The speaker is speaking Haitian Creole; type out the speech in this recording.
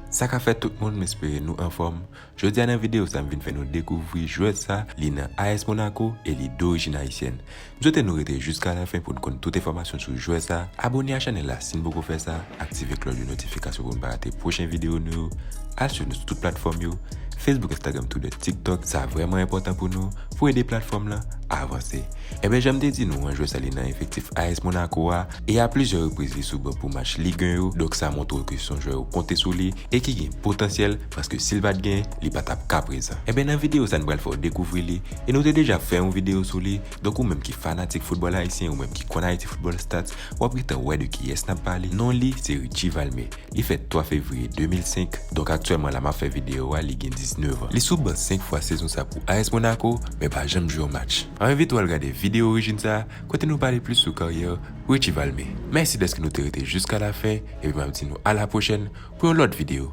Sa ka fèt tout moun m espere nou anfòm, jodi a nan video sa m vin fè nou dekouvri jwè sa li nan AS Monaco e li dorigine haïtienne. M swete nou rete jiska lafen pou n konn tout enfòmasyon sou jwè sa, abone a chanèl la si n poko fè sa, aktive klòch de notifikasyon pou n pa rate pwochen videyo nou yo, al swiv nou sou tout platfòm yo, Facebook Instagram Twitter TikTok sa vrèman enpòtan pou nou, pou ede platfòm lan avanse. Enben janm te di nou an jwè sa li nan efektif AS Monaco a e a plizyè repriz li sou ban pou match Ligue 1 yo donk sa montre w ke son jwè yo konte sou li e ki gen potansyèl paske sil pat gen li pa tap ka prezan. Enben nan videyo sa n pral fè w dekouvri li E nou te deja fè yon video sou li, donk ou menm ki fanatik foutbòl ayisyen, ou menm ki konn Haiti Football Stats, w ap gentan wè de kiyès n ap pale, non li se Richie Valmé, li fèt 3 fevriye 2005, donk aktyèlman la m ap fè video a li gen 19 an. Li sou ban 5 fwa sezon sa pou AS Monaco, men pa janm jwe yon match. M ap envite w al gade video orijin sa, kote nou pale plis sou karyè Richie Valmé. Mèsi dèske nou te rete jiskalafen, epi m ap di nou a la pwochèn pou yon lòt video.